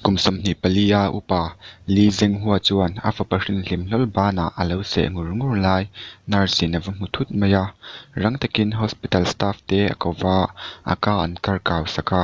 Kum sawmhnih pali a upa Li Zhenghua chuan a fapa hringhlim hlawl bânah a lo seh ngur ngur lai nurse in a va hmu thut mai a. Rang takin hospital staff te a ko va a ka an kar kau sak a.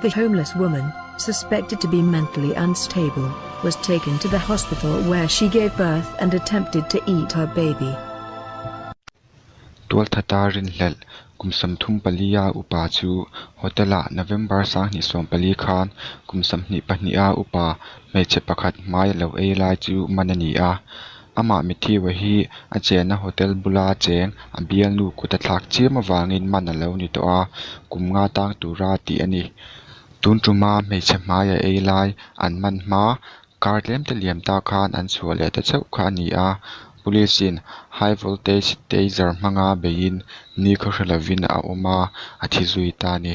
The homeless woman, suspected to be mentally unstable, was taken to the hospital where she gave birth and attempted to eat her baby. Tualthata rinhlelh kum sam thum pali a upa chu hotel ah November sanghnih sawm pali khan kum samhnih pahnih a upa hmeichhe pakhat hmai a lo ei lai chu man a ni a, Amah mithiua hi a chenna hotel bula cheng a bialnu kut a thlak chiam avangin man a lo ni tawh a, kum nga tang tura tih a ni. Tun tuma hmeichhe hmaiah ei lai an man hma kar tlemte liam ta khan an chhuah leh ta chauh kha a ni a, Police in high voltage taser hmanga beiin ni ka hre lovin a awm a, a thi zui ta a ni.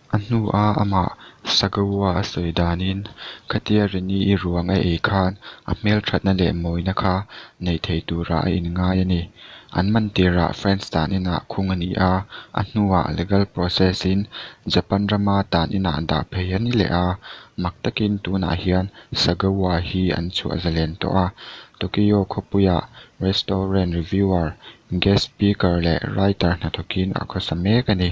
A hnu a amah Sagaua a sawi danin, Khatia Rini i ruang a ei khan a hmelthatna leh mawina kha neih thei tura a inngai a ni. An man tirah France tan inah khung a ni a, a hnuah legal process in Japan rama tan inah dah phei a ni leh a. Mak takin tunah hian Sagaua hi an chhuah zalen tawh a, Tokyo khawpuiah restaurant reviewer, guest speaker leh writer hnathawkin a khawsa mek a ni.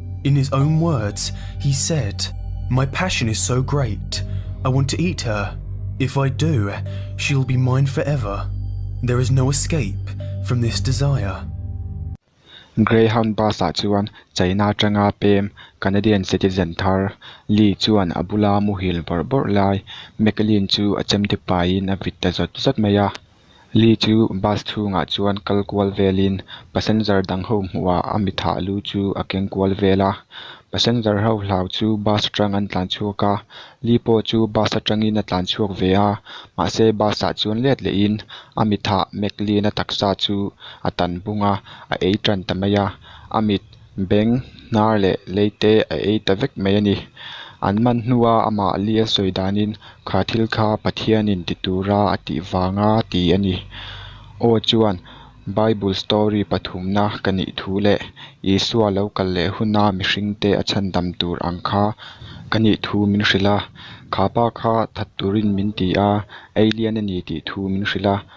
In his own words, he said, My passion is so great, I want to eat her. If I do, she will be mine forever. There is no escape from this desire. Greyhound bus ah chuan China atanga pem Canadian citizen thar Lee chuan a bula muhil bawrh bawrh lai. Mclean chu a chemte paiin a vit ta zawt zawt mai a. Lee chu bus chhungah chuan kal kual velin passenger dang ho hmuha a mi thah lu chu a keng kual vel a, passenger ho hlau chu bus atang an tlan chhuak a, Lee pawh chu bus atangin a tlan chhuak ve a, mahse bus ah chuan let leh in a mi thah Mclean-a taksa chu a tan bung a, a ei tan ta mai a, a mit Beng hnar leh leite a ei ta vek mai a ni. An man hnua amah li a sawi danin kha thil kha Pathianin ti tura a tih vanga ti a ni. Aw chuan Bible story pathumna ka nih thu leh Isua lo kal leh huna mihringte a chhan dam tur ang kha ka nih thu min hrilh a. Khapa kha that turin min ti a, Alien a ni tih thu min hrilh a,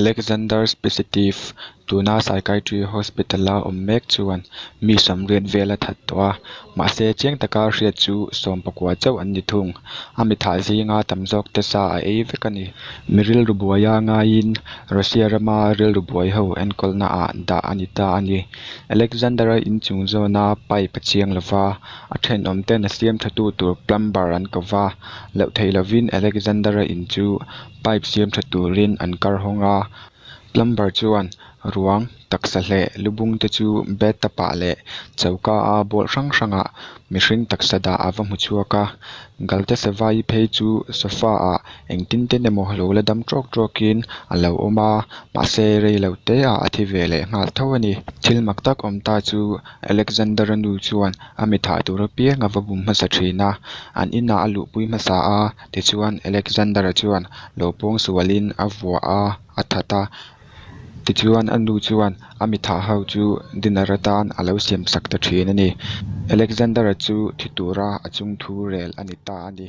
Alexander Specitive, tuna Psychiatry Hospital-a awm mek chuan mi sawmriat vel a that tawh a, mahse chiang taka hriat chu sawm pakua chauh an ni thung. A mitthah zinga tam zawk te sa a ei vek a ni. Mi rilru buaia ngaiin Russia rama rilru buai ho enkawlnaah dah a ni ta a ni. Alexander-a in chung zawna pipe a chiang lova, a thenawm ten a siamthatu tur plumber an ko va, loh theih lovin Alexander-a in chu Pipe siam tha turin an kar hawng a, plumber chuan ruang taksa hleh lubung te chu bathtub ah leh choka a bawlh hrang hrang ah mihring taksa dah a va hmu chhuak a, Galte Savai phei chu sofa ah engtin ten emaw lo la dam trawk trawk in a lo awm a, mahse rei lo te ah a thi ve leh nghal tho a ni. Thil mak tak awm ta chu Alexander-a nu chuan a mi thah tur apiang a va bum hmasa thin a, an inah a luhpui hmasa a, Tichuan, Alexander-a chuan lo pawng sualin a vua a a that a. Tichuan, a nu chuan a mithah ho chu dinner atan a lo siam sak ta thin a ni. Alexander-a chu thi tura a chung thu rel a ni ta a ni.